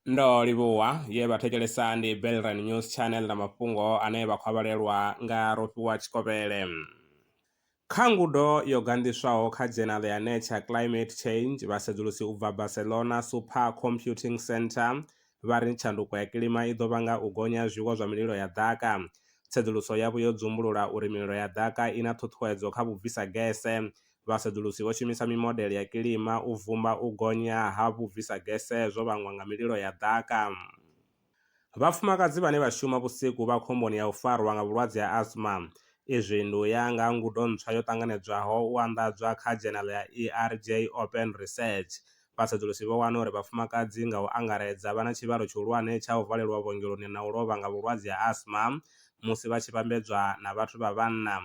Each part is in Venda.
ndo livhuwa ye vha thetshelesa ndi belran news channel na mafhungo ane vha khou avhalelwa nga rofhiwa tshikovhele kha ngudo yo ganḓiswaho kha dzhenala ya nature climate change vhasedzulusi u bva barcelona super computing center vha ri tshanduko ya kilima i ḓo vhanga u gonya zwiwo zwa mililo ya ḓaka tsedzuluso yavho yo dzumbulula uri mililo ya ḓaka i na ṱhuṱhuwedzo kha vhubvisa gese Vhasedzulusi vho shumisa mimodele ya kilima u vhumba u gonya ha vhubvisagese zwo vhangwa nga mililo ya ḓaka. Vhafumakadzi vhane vha shuma vhusiku vha khomboni ya u farwa nga vhulwadze ha asthma. Izwi ndi u ya nga ha ngudo ntswa yo ṱanganedzwaho u anḓadzwa kha dzhenala ya ERJ Open Research. Vhasedzulusi vho wana uri vhafumakadzi nga u angaredza vha na tshivhalo tshihulwane tsha u valelwa vhuongeloni na u lovha nga vhulwadze ha asthma musi vha tshi vhambedzwa na vhathu vha vhanna.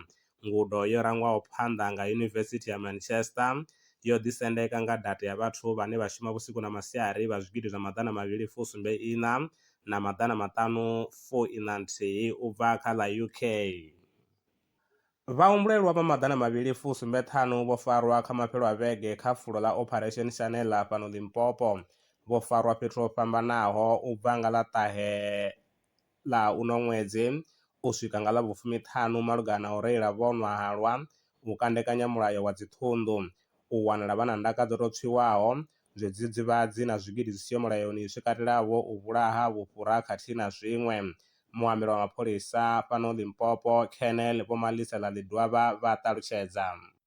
Ngudo yo rangwaho phanḓa nga Yunivesithi ya Manchester yo ḓisendeka nga data ya vhathu vhane vha shuma vhusiku na masiari vha zwigidi zwa maḓana mavhili fu sumbe iṋa na maḓana maṱanu fu iṋa nthihi u bva kha ḽa UK. Vhahumbulelwa vha maḓana mavhili fu sumbe ṱhanu vho farwa kha mafhelo a vhege kha fulo ḽa Operation Shanela fhano Limpopo, vho farwa fhethu ho fhambanaho u bva nga ḽa ṱahe. ḽa uno ṅwedzi u swika nga ḽa vhufumiṱhanu malugana na u reila vho nwa halwa, u kandekanya mulayo wa dziṱhunḓu, u wanala vha na ndaka dzo tou tswiwaho, zwidzidzivhadzi na zwigidi zwi siho mulayoni zwi katelaho u vhulaha, vhufhura khathihi na zwiṅwe. Muambeli wa mapholisa fhano Limpopo, Colonel Vho Malisela Ledwaba vha ṱalutshedza.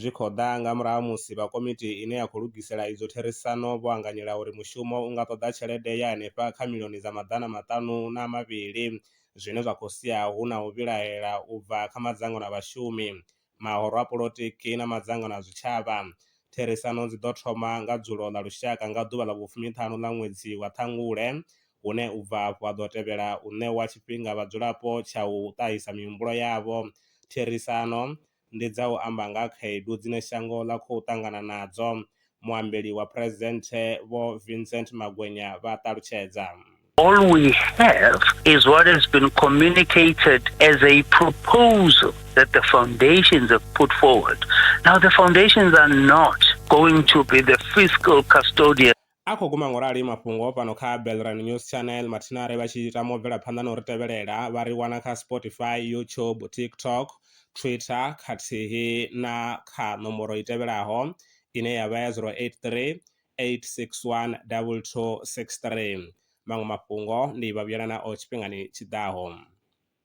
Zwi khou ḓa nga murahu ha musi vha komiti ine ya khou lugisela idzo therisano vho anganyela uri mushumo u nga ṱoḓa tshelede ya henefha kha milioni dza maḓana maṱanu na mavhili, zwine zwa khou sia hu na u vhilaela u bva kha madzangano a vhashumi, mahoro a polotiki na madzangano a zwitshavha. Therisano dzi ḓo thoma nga dzulo ḽa lushaka nga ḓuvha ḽa vhufumiṱhanu ḽa ṅwedzi wa Ṱhangule, hune u bva afho ha ḓo tevhela u ṋewa tshifhinga vhadzulapo tsha u ṱahisa mihumbulo yavho. Therisano ndi dza u amba nga ha khaedu dzine shango ḽa khou ṱangana nadzo, muambeli wa phresidenthe Vho Vincent Magwenya vha ṱalutshedza. All we have is what has been communicated as a proposal that the foundations have put forward. Now the foundations are not going to be the fiscal custodian. A khou guma ngorali mafhungo fhano kha Belrand News Channel mathina are vha tshi tama u bvela phanḓa na u ri tevhelela vha ri wana kha Spotify, YouTube, TikTok, Twitter khathihi na kha nomboro i tevhelaho ine ya vha ya 083 861 2263. Maṅwe mafhungo ndi vha vhuyela nao tshifhingani tshi ḓaho.